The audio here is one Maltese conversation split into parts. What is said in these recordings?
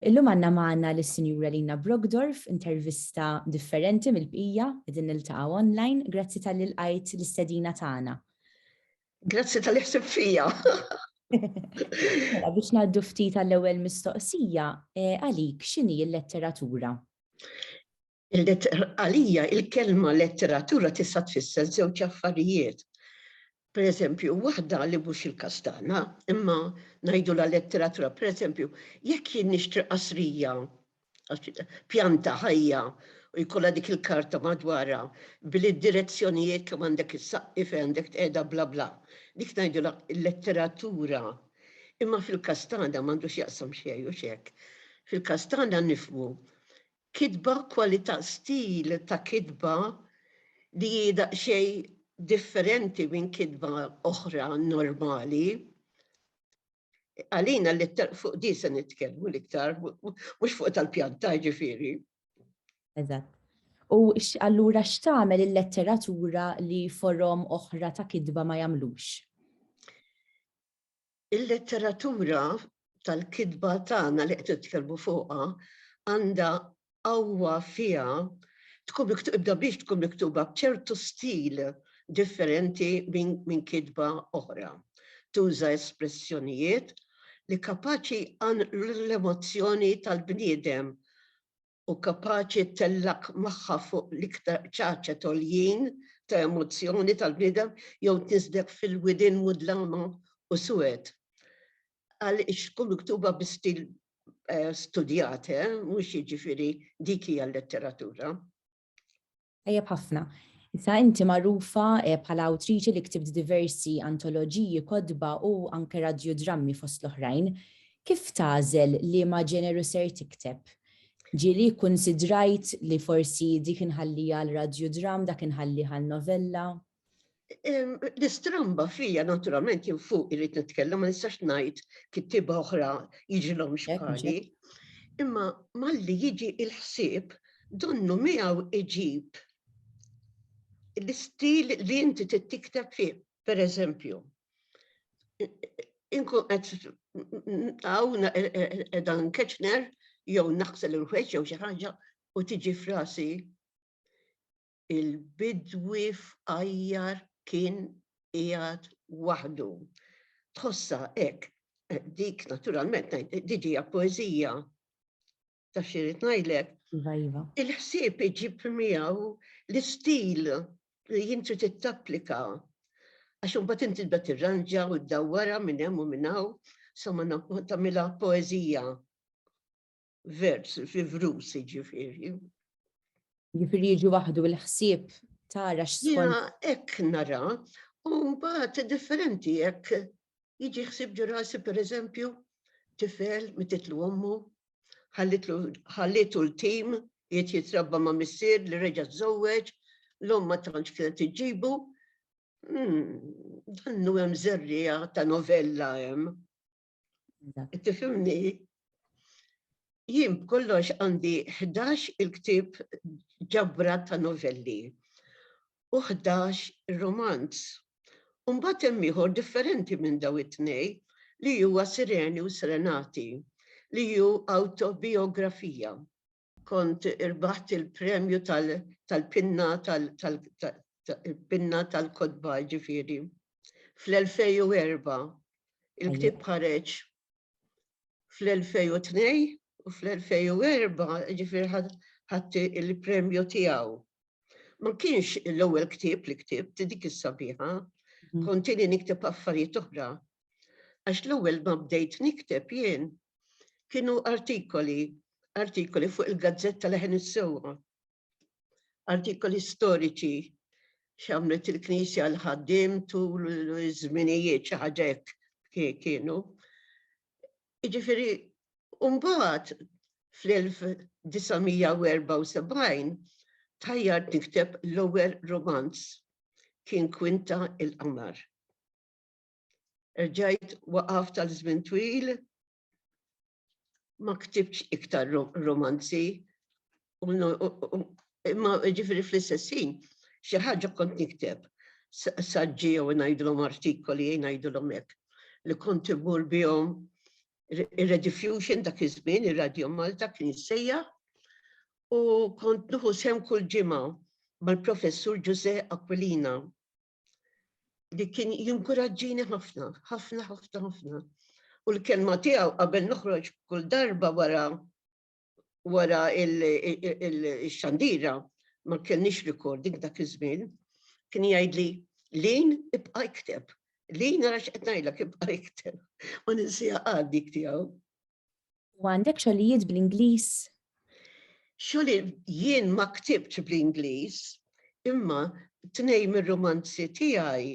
Illum għandna magħna lis-Sinjura Lina Brockdorff, intervista differenti mill-bqija, qegħdin niltaqgħu online. Grazzi talli lqajt l-istedina tagħna. Grazzi talli ħsibt fija. Mela biex ngħaddu ftit għall-ewwel mistoqsija, għalik x'inhi l-letteratura? Għalija il-kelma letteratura tista' tfisser żewġ affarijiet. Pereżempju, waħda li mhux il-każ tagħna, imma ngħidulha letteratura. Pereżempju, jekk jien nixtri qasrija, pjanta ħajja u jkollha dik il-karta madwarha bil-direzzjonijiet kemm għandek issaqqi, fejn għandek tqiegħda bla bla. Dik ngħidulha letteratura. Imma fil-każ tagħna m'għandu x'jaqsam xejn, hux hekk? Fil-każ tagħna nifhmu Kitba, kwalità, stil ta' kitba li hi daqsxejn differenti minn kitba oħra normali. Għalina l-ittera, fuq din se nitkellmu l-iktar, mhux fuq tal-pjanta jiġifieri. Eżatt. U allura x'tagħmel il-letteratura li forom oħra ta' kitba ma jagħmlux? Il-letteratura tal-kitba tagħna li qed nitkellmu fuqha għandha qawwa fiha tkun miktubda biex tkun miktuba b'ċertu stil differenti minn kitba oħra. Tuża espressjonijiet li kapaċi jqanqlu l-emozzjoni tal-bniedem u kapaċi ttellgħek magħha fuq l-iktar ċaċet għoljin ta' emozzjoni tal-bniedem jew tniżżlek fil-widien mudlama u suwed. Għaliex tkun miktuba bi stil studjat, eh, mhux jiġifieri dik hija l-letteratura. Tajjeb ħafna. Issa inti magħrufa bħala awtriċi li ktibt diversi antoloġiji, kotba u anke radjudrammi fost l-oħrajn. Kif tagħżel liema ġeneru ser tikteb? Ġieli kkunsidrajt li forsi dik inħalliha għal radjudramm, dak inħallih għal novella? L-istramba fija naturalment jien fuq irrit nitkellem ma nistax ngħid kittiba oħra jiġilhom xbħali. Imma malli jiġi il-ħsieb donnu miegħu iġib l-istil li inti tittikteb fih, per eżempju. Inkun qed hawn e- e- e- edan keċner jew naqsel il-ħweġ jew xi ħaġa u tiġi frasi il-bidwi f'għajjar kien qiegħed waħdu. Tħossha hekk, dik naturalment dik hija poeżija ta' xi rid ngħidlek. Iva, iva. Il-ħsieb iġib miegħu l-istil li jinti tittapplika għax imbagħad inti tibda tirranġa u ddawwara minn hemm u minn hawn sa ma tagħmilha poeżija. vers, fi vrus ġifiri. Ġifiri jiġi waħdu l-ħsieb tara x'skont. Ek nara, un bat differenti ek jiġi ħsib ġurasi per eżempju tifel mititlu ommu, ħallitu l-tim, jiet jitrabba ma' missir li reġa' żewweġ, l-om ma tantx kienet iġibu. Hmm, dannu hemm zerrija ta' novella hemm. Tifimni, jien kollox għandi 11 il-ktib ġabra ta' novelli u 11 romanz. Umbat hemm ieħor differenti minn daw it-tnej li huwa Sireni u Serenati li hu autobiografija. Kont irbaħt il-premju tal-pinna tal-pinna tal-kotba ġifieri. Fl-2004 il-ktieb ħareġ fl-2002 u fl-2004 ġifieri ħadd il-premju tiegħu. Ma kienx l-ewwel ktieb li ktibt dik is-sabiħa, kontini nikteb affarijiet oħra. Għax l-ewwel ma bdejt nikteb jien Kienu artikoli, artikoli fuq il-gazzetta leħen is-sewwa, artikoli storiċi x'għamlet il-Knisja l ħaddim tul iż-żminijiet xi ħaġa kienu. Jiġifieri mbagħad fl-1974 tajjar tikteb l-ewwel romanz kien Kwinta il-Qamar. Erġajt waqaft għal żmien twil, ma ktibx iktar romanzi, imma ġifiri fl-istessin, xi ħaġa kont nikteb, saġġi jew ngħidlhom artikoli jew ngħidlhom hekk, li kont imur bihom ir-Rediffusion dak iż-żmien, ir-Radio Malta kien jissejjaħ, u kont nuħu sem kull ġimgħa mal-Professur Ġużè Aquilina li kien jinkuraġġini ħafna, ħafna, ħafna, ħafna. U l-kelma tiegħu qabel noħroġ kull darba wara wara il-xandira ma kellniex recording dak iż-żmien, kien jgħidli lin ibqa' ikteb. Lin nara x'qed ngħidlek ibqa' ikteb. Ma ninsija għaddik tiegħu. U għandek xogħlijiet bl-Ingliż? Xogħli jien ma ktibtx bl-Ingliż, imma tnejn mir-rumanzi tiegħi,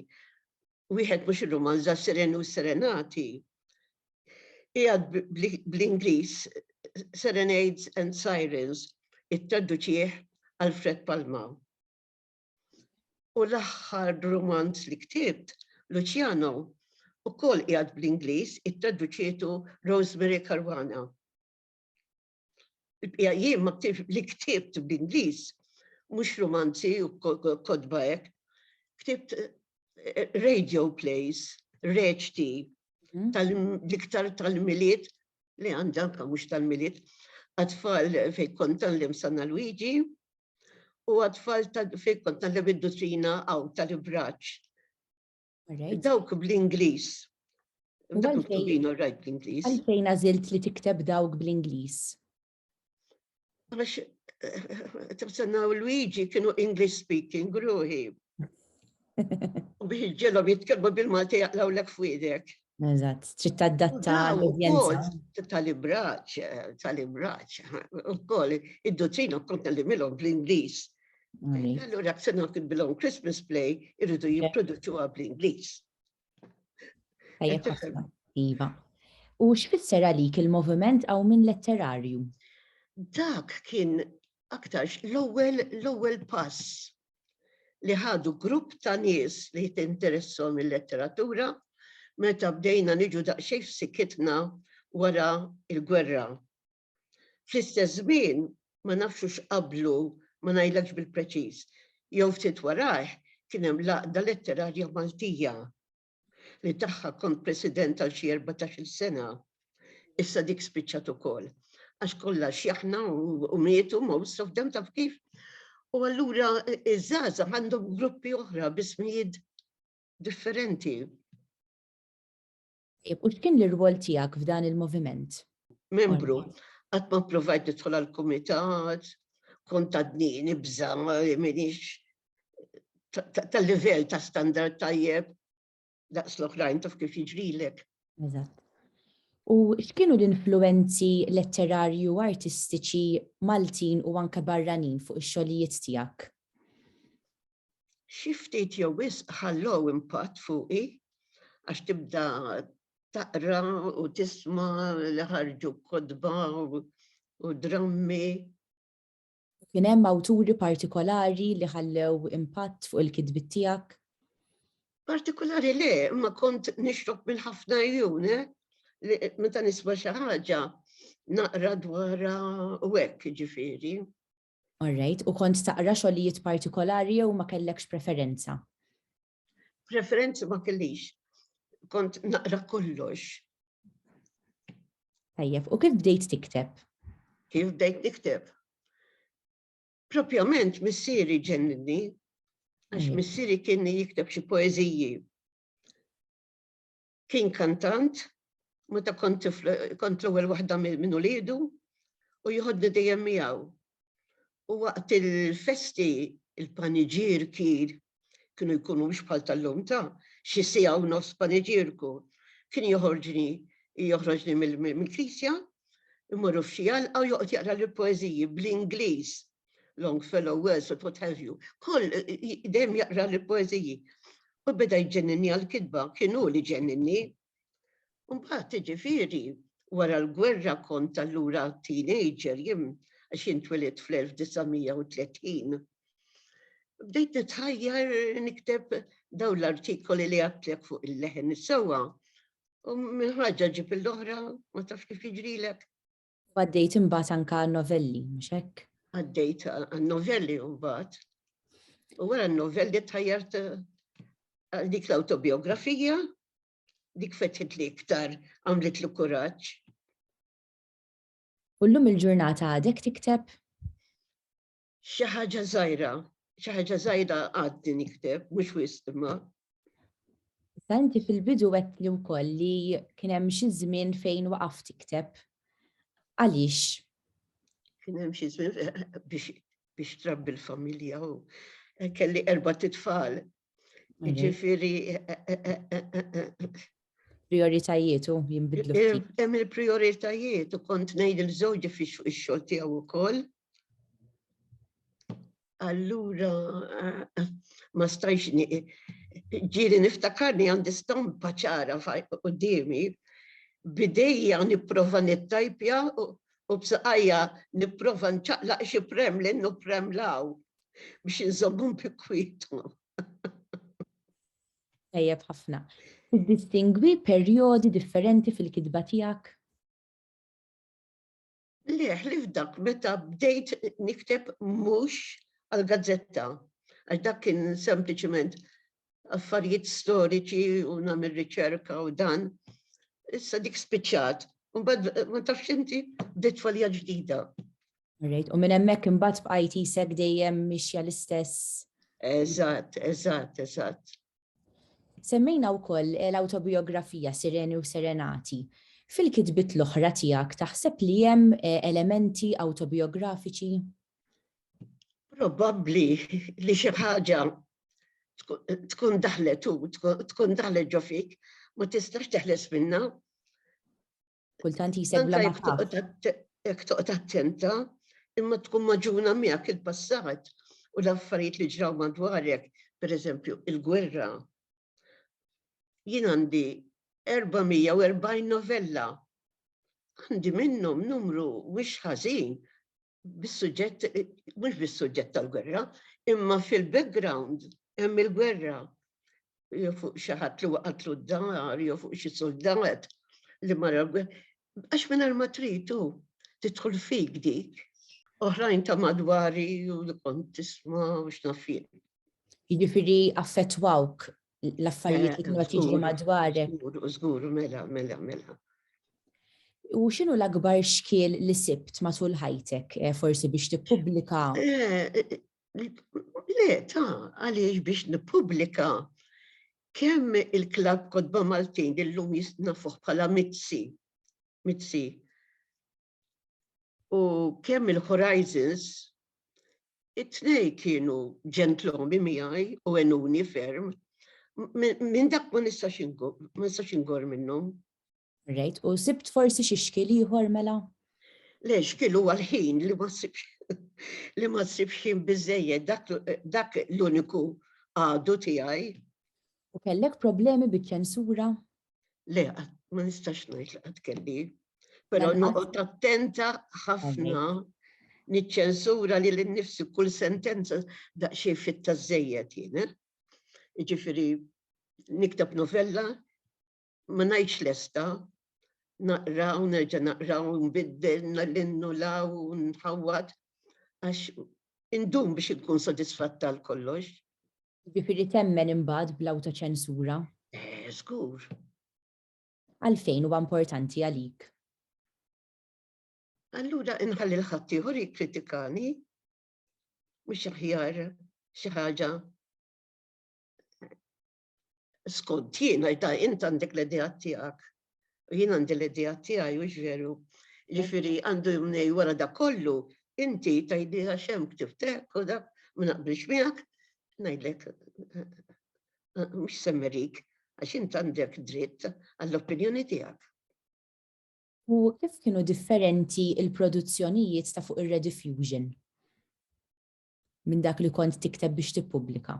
wieħed mhux ir-rumanz da Serenu u Serenati, qiegħed bl-Ingliż Serenades and Sirens, ittraduċih Alfred Palma. U l-aħħar rumanz li ktibt, Luciano, ukoll qiegħed bl-Ingliż, ittraduċietu Rosemary Caruana. Il-bqija jien ma ktibt li ktibt bl-Ingliż, mhux rumanzi u kodba hekk, ktibt eh, radio plays, reċti, mhm. tal-iktar tal-miliet li għandha mhux tal-miliet għatfall fej kont tal-lim Sanna Luigi, u għatfall fil-kont tal-levidutina għaw tal-ibraċ. Dawk bl-Inglis. Għalfejn għazilt li tikteb dawk bl-Inglis? Għax, eh, tibsannaw Luigi kienu English speaking, gruħi. U biex iġġelhom jitkellmu bil-Malti jaqlaw lek f'widek. Eżatt, trid taddatta l-udjenza. Tal-ibraċ, tal-ibraċ, ukoll id-dutrina kont nallimilhom bl-Ingliż. Allura se nagħti bilhom Christmas play irridu jipproduċuha bl-Ingliż. Iva. U x'fisser għalik il-moviment għaw minn letterarju? Dak kien aktarx l-ewwel l-ewwel pass li ħadu grupp ta' nies li tinteressahom il-letteratura meta bdejna niġu daqsxejn f'sikitna wara l-gwerra. Fl-istess żmien, ma nafx hux qablu, ma ngħidlekx bil-preċiż, jew ftit warajh, kien hemm l-Għaqda Letterarja Maltija li tagħha kont President għal xi erbatax-il sena, issa dik spiċċat ukoll. Għax kollha xjaħna u mietu most of them taf kif. U allura iż-żgħażagħ għandhom gruppi oħra bismijiet differenti. U x'kien l-irwol tiegħek f'dan il-moviment? Membru, qatt ma provajt nidħol għall-kumitat, kont għadni nibża minix ta' livell ta' standard tajjeb daqs l-oħrajn taf kif jiġrilek. Eżatt. U x'kienu l-influenzi letterarju u artistiċi Maltin u anke barranin fuq ix-xogħlijiet tiegħek? Xi ftit jew wisq ħallow impatt fuqi għax tibda taqra u tisma' li ħarġu kodba u drammi U kien hemm awturi partikolari li ħallew impatt fuq il-kitbiet tiegħek? Partikolari le, imma kont nixrob minn ħafna jun, eh? Meta nisma' xi ħaġa naqra dwar u hekk ġifieri. All right, u kont taqra xogħlijiet partikolari jew ma kellekx preferenza? Preferenzi ma kellix, kont naqra kollox. Tajjeb, u kif bdejt tikteb? Kif bdejt tikteb? Propjament missieri ġenninni, għax missieri kien jikteb xi poeżiji. Kien kantant, meta kont tifla kont l-ewwel waħda minn uliedu u jieħodni dejjem miegħu. U waqt il-festi, il-paniġierki kienu jkunu mhux bħal tal-lum ta' xi siegħa u nofs paniġierku. Kien joħorġni joħroġni mill-knisja, immorru f'xi għalqa u joqgħod jaqrali poeżiji bl-Ingliż. Longfellow, Wordsworth, what have you, kull dejjem jaqra l-poeżiji. U beda jġenninni għall-kitba, kien hu li ġenninni. Mbagħad ġifieri wara l-gwerra kont allura teenager jien għax jien twilit fl-1930. Bdejt nitħajjar nikteb daw l-artikoli li għatlek fuq il-leħen is-sewwa. U minn ħaġa ġib l-oħra, ma tafx kif jiġrilek. U għaddejt imbagħad anke għan-novelli, mhux hekk? Għaddejt għan-novelli mbagħad. U wara n-novelli tħajjart għal dik l-autobiografija, dik fetħit li iktar għamlet li kuraġġ. U llum il-ġurnata għadek tikteb? Xi ħaġa żgħira, xi ħaġa żgħira għaddi nikteb, mhux wisq imma. Santi fil-bidu għedt li wkoll li kien hemm xi żmien fejn waqaf tikteb. Għaliex? Kien hemm xi żmien biex trabbi l-familja u kelli erba' titfal Ġifiri. Prioritajiet u jimbidlu. Hemm il-prioritajiet u kont ngħid il-żewġ fix fuq ix-xogħol tiegħu wkoll. Allura ma stajx ġieli niftakarni għandi stampa ċara qudiemi bidejja nipprova nittajpja u b'saqajja nipprova nċaqlaq xi premlin u premlaw. biex inżommhom bi kwietu. Tajjeb ħafna. Tiddistingwi perjodi differenti fil-kitba tiegħek? Le, li f'dak meta bdejt nikteb mhux għal gazzetta għax dak kien sempliċement affarijiet storiċi u nagħmel riċerka u dan. Issa dik spiċċat. Mbagħad ma tafx inti bdiet falja ġdida. Rejt, u minn hemmhekk imbagħad bqajt isek dejjem mixja l-istess. Eżatt, eżatt, eżatt. Semmejna wkoll eh, l-autobiografija Sireni u Serenati. Fil-kitbit l-oħra tiegħek taħseb li hemm eh, elementi autobiografiċi? Probabbli li xi ħaġa tkun daħlet u tkun daħlet ġo fik, ma tistax teħles minna. Kultant jisegħu la Jek toqgħod attenta, imma tkun maġuna miegħek il-passat u l-affarijiet li ġraw madwarek, per eżempju, il-gwerra. Jien għandi 440 novella. Għandi minnhom numru wix ħażin bis-suġġett, mhux bis-suġġett tal-gwerra, imma fil-background hemm il-gwerra jew fuq xi ħadd li waqatlu d-dar jew fuq xi soldat li mara għax mingħajr ma tridu tidħol fik dik. Oħrajn ta' madwari u li kont tisma' u x'nafien. Jiġifieri affettwawk l-affarijiet li kienu qed jiġru eh, madwarek. Żgur, żgur, mela, mela, mela. U x'inhu l-akbar xkiel li sibt matul ħajtek eh, forsi biex tippubblika? Eh, le, ta' għaliex biex nippubblika kemm il-klab kodba Maltin illum jisnafuh bħala mitzi, mitzi, u kemm il-Horizons, it-tnej kienu ġentlomi miegħi u enuni ferm, minn dak ma nistax ingor minnhom. Rejt, u sibt forsi xi xkil ieħor mela? Le, xkil huwa l-ħin li ma sibx li ma sibx ħin biżejjed dak l-uniku għadu tiegħi. U kellek problemi biċ-ċensura? Le, ma nistax ngħid li qatt kelli. Però mela, noqgħod attenta ħafna niċċensura li l-nifsi kull sentenza daqxie fitta żejjed jien. Eh? Ġifiri, niktab novella, ma najċ lesta, naqra u nerġa naqra u nbiddel, nallinnu law, nħawat, għax Indum biex inkun sodisfatt għal kollox. Jiġifieri temmen imbagħad bl-awtoċensura? Eh, żgur. Għalfejn huwa importanti għalik? Allura inħalli l-ħaddieħor jikkritikani mhux aħjar xi ħaġa skont jiena, ta' int għandek l-idea tiegħek, u jien għandi l-idea tiegħi u ġveru, ġifiri għandu jumnej wara da kollu, inti ta' idea xem ktiftek u dak, ma naqbilx miegħek, ngħidlek mhux semmerik, għax int għandek dritt għall-opinjoni tiegħek. U kif kienu differenti il-produzzjonijiet ta' fuq ir-Rediffusion minn dak li kont tikteb biex tippubblika?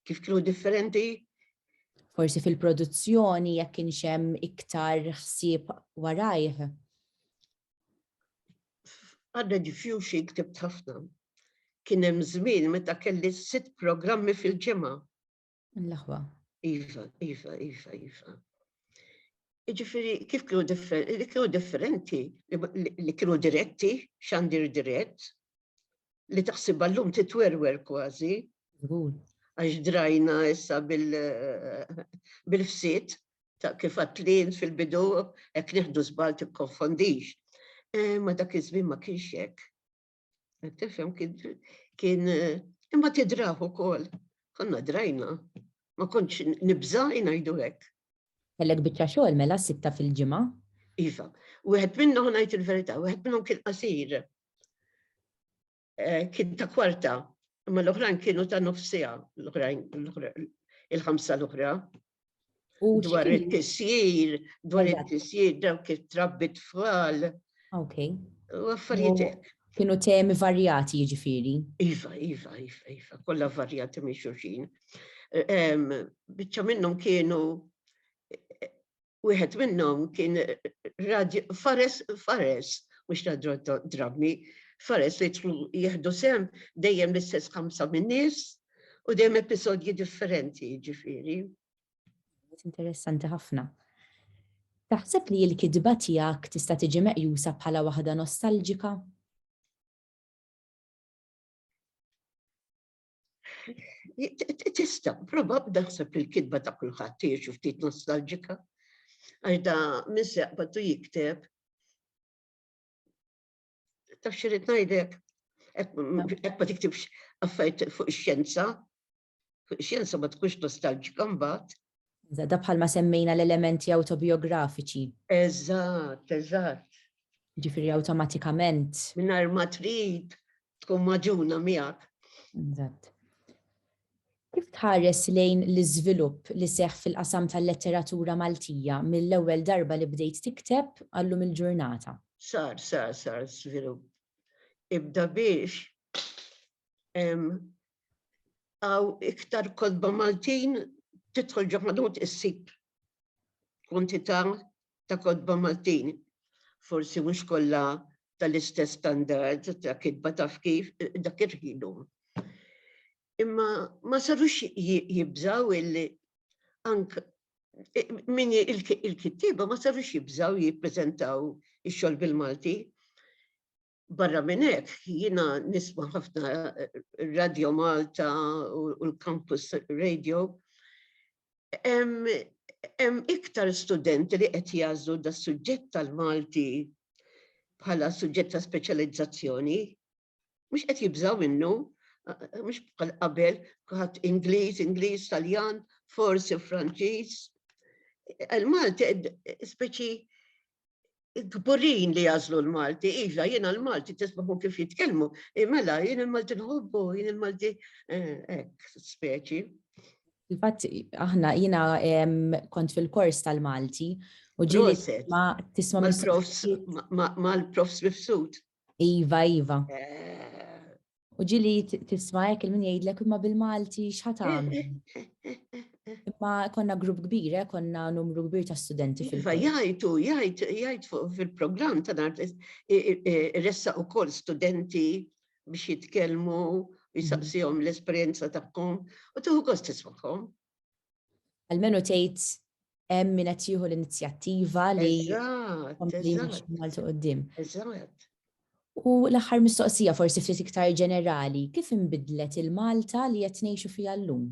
Kif kienu differenti? Forsi fil-produzzjoni jekk kienx hemm iktar ħsieb warajh. Għadda ġifjuxi ktib ħafna. Kien hemm żmien meta kelli sitt programmi fil-ġimgħa. L-aħwa. Iva, iva, iva, iva. Iġifiri, kif kienu differenti, li kienu differenti, li kienu diretti, xandir dirett, li taħsibha llum titwerwer kważi. Żgur. Għax drajna issa bil-fsit ta' kif għatlin fil-bidu hekk nieħdu żbal tikkonfondix. Eh, ma dak iż-żmien ma kienx hekk. Tifhem kien eh, imma tidraħu ukoll. Konna drajna. Ma kontx nibża' ngħidu hekk. Kellek biċċa xogħol mela sitta fil-ġimgħa? Iva, wieħed minnhom ngħid il-verità, wieħed minnhom kien qasir. eh, kien ta' kwarta, imma l-oħrajn kienu ta' nofsija, l-oħrajn, il-ħamsa l-oħra. Dwar it-tisjir, dwar it-tisjir, dawk it-trabbi tfal. Ok. U affarijiet Kienu temi varjati jiġifieri. Iva, iva, iva, iva, kollha varjati minn xulxin. Biċċa minnhom kienu wieħed minnhom kien radju fares fares mhux radju drammi fares li jidħlu jieħdu sehem dejjem l-istess ħamsa min-nies u dejjem episodji differenti jiġifieri. Interessanti ħafna. Taħseb li l-kitba tiegħek tista' tiġi meqjusa bħala waħda nostalġika? Tista, prova b'daħseb li l-kitba ta' kulħadd tiex u ftit nostalġika. Għax da minn seqbatu jikteb. Taf xirrit ngħidlek, hekk ma tiktibx affajt fuq ix-xjenza, fuq ix-xjenza ma tkunx nostalġika mbagħad. Żada bħalma semmejna l-elementi awtobijografiċi. Eżatt, eżatt. Jiġifieri awtomatikament. Mingħajr ma trid tkun maġuna miegħek. Eżatt. Kif tħares lejn l-iżvilupp li seħħ fil-qasam tal-letteratura Maltija mill-ewwel darba li bdejt tikteb għallum il-ġurnata? Sar, sar, sar żvilupp. Ibda biex għaw iktar kodba Maltin titħol ġaħadut issib kwantità ta' kodba Maltin. Forsi mhux kollha tal-istess standard ta' kitba taf kif dak irħilu. Imma ma sarux jibżaw illi ank min il-kittiba ma sarux jibżaw jippreżentaw ix-xogħol bil-Malti. Barra minn hekk, jiena nisma' ħafna Radio Malta u l-Campus Radio. Hemm iktar studenti li qed jagħżlu da suġġett tal-Malti bħala suġġett ta' speċjalizzazzjoni, mhux qed jibżaw minnu, mhux bħal qabel ħadd Ingliż, Ingliż, Taljan, forsi Franċiż. Il-Malti speċi kburin li jażlu l-Malti, iva, jiena l-Malti tisbaħu kif jitkellmu, imela jien il-Malti nħobbu, jien il-Malti eh, ek, speċi. Infatti, aħna jiena kont fil-kors tal-Malti u ġili ma tisma mal-prof Smifsut. Iva, iva. U ġili tisma jek il-min jgħidlek imma bil-Malti xħatam. Imma konna grupp kbir, eh, konna numru kbir ta' studenti fil Iva, jgħajtu, jgħajt, jgħajt fil-program ta' nar ressa u kol studenti biex jitkelmu, jisaqsijom mhm. l-esperienza tagħhom u tuħu kost tismaħom. Almenu tgħid hemm min qed jieħu l-inizjattiva li kompli Malta qudiem. Eżatt. U l-aħħar mistoqsija forsi ftit iktar ġenerali, kif inbidlet il-Malta li qed ngħixu fiha llum?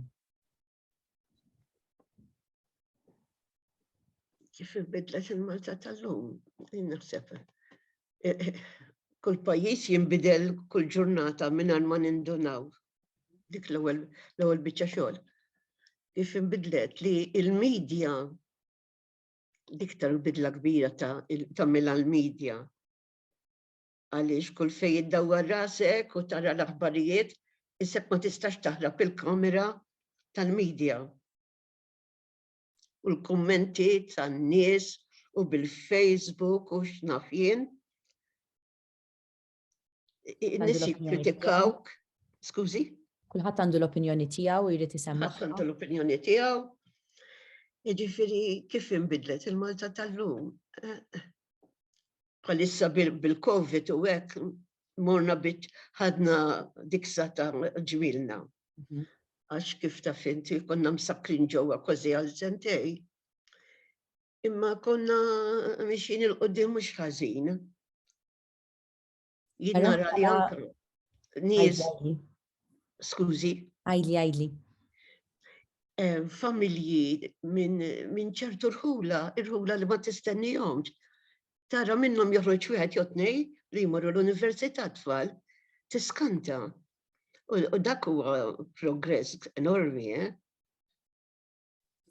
Kif inbidlet il-Malta tal-lum? Naħseb eh, eh, kull pajjiż jinbidel kull ġurnata minn ma nindunaw dik l-ewwel biċċa xogħol. Kif inbidlet li il-medja dik tal-bidla kbira ta' mela l-medja għaliex kull fej id-dawwar rasek u tara l-aħbarijiet isek ma tistax taħrab il-kamera tal-medja. U l-kummenti tan-nies u bil-Facebook u x'naf jien. Nis jikkritikawk, skużi? Kulħadd għandu l-opinjoni tiegħu jrid isemma. Kulħadd għandu l-opinjoni tiegħu. Jiġifieri kif inbidlet il-Malta tal-lum? Bħalissa bil-Covid u hekk morna bit ħadna diksa ta' ġwilna. Mhm. Għax kif ta' finti konna msakrin ġewwa kważi għal sentej. Imma konna mixin il-qoddim mhux ħażin. Jien nara li anka nies skużi. Għajli, għajli. Eh, familji minn ċertu rħula, rħula li ma tistennihomx. Tara minnhom joħroġ wieħed jew tnej li jmorru l-università tfal, tiskanta. U dak huwa progress enormi, eh?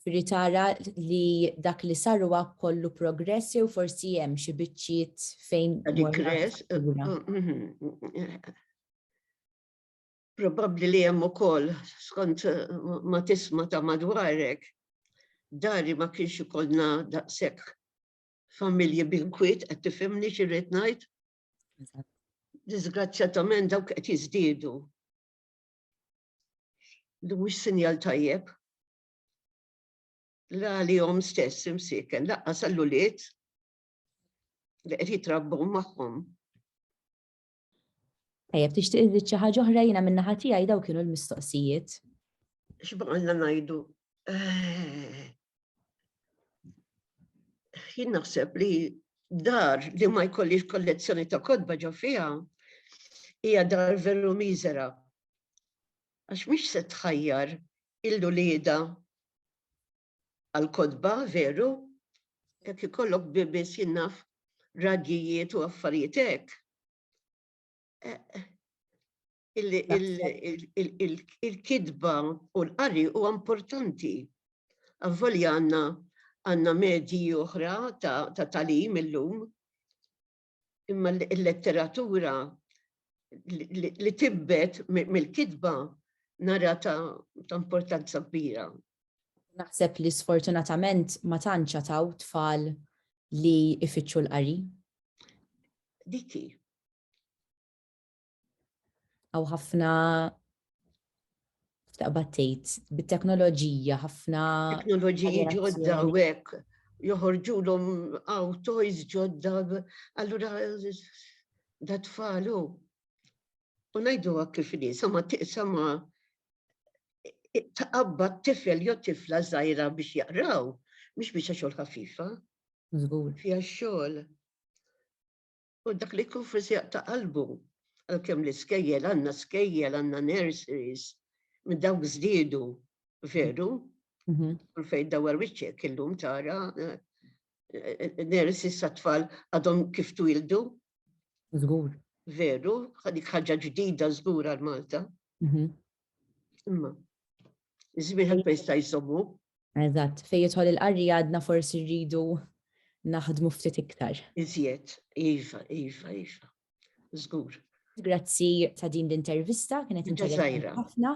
Firri tara li dak li sar huwa kollu progress jew forsi hemm xi biċċiet fejn. Digress. Probabbli li hemm ukoll skont ma tisma ta' madwarek dari ma kienx ikollna daqshekk familji binkwiet qed tifhimni xi rrid ngħid. Disgrazzjatament dawk qed jiżdiedu. li mhux sinjal tajjeb la għalihom stess imsiken laqqa sal-ulied li qed jitrabbu magħhom. Tajjeb tixtieq iżid xi ħaġa oħra jiena minn naħa tiegħi daw kienu l-mistoqsijiet. X'baqalna ngħidu? Eh, jien naħseb li dar li ma jkollix kollezzjoni ta' kodba ġo fiha hija dar veru miżera għax mhix se tħajjar lil uliedha għall-kotba, veru? Jekk ikollok biebis jien naf raggijiet u affarijiet hekk. Il-kitba u l-qari huwa importanti. Avvolja għandna għandna medji oħra ta' tagħlim illum. imma l-letteratura li tibbet mill-kitba nara ta' importanza kbira. Naħseb li sfortunatament ma tanċa ta' tfal li ifittxu l-qari. Diki. Għaw ħafna taqbad tgħid bit-teknoloġija ħafna. Teknoloġiji ġodda u hekk joħorġulhom għaw toys ġodda allura da tfalu. U ngħidu kif li sama tiqsama taqabba tifel jew tifla żgħira biex jaqraw, mhux biex xogħol ħafifa. Żgur. Fija xogħol. U dak li jkun fis-sieq ta' qalbu, għalkemm l-iskejjel, għandna skejjel, għandna nurseries, minn dawk żdiedu, veru, kull fejn dawwar wiċċek illum tara nurseries tat-tfal għadhom kif twildu. Żgur. Veru, dik ħaġa ġdida żgur għal Malta. Imma, iż-żmien ħadd ma jista' jsommu. Eżatt, fejn jidħol il-qarri għadna forsi rridu naħdmu ftit iktar. Iżjed, iva, iva, iva. Żgur. Grazzi ta' din l-intervista, kienet interessanti ħafna.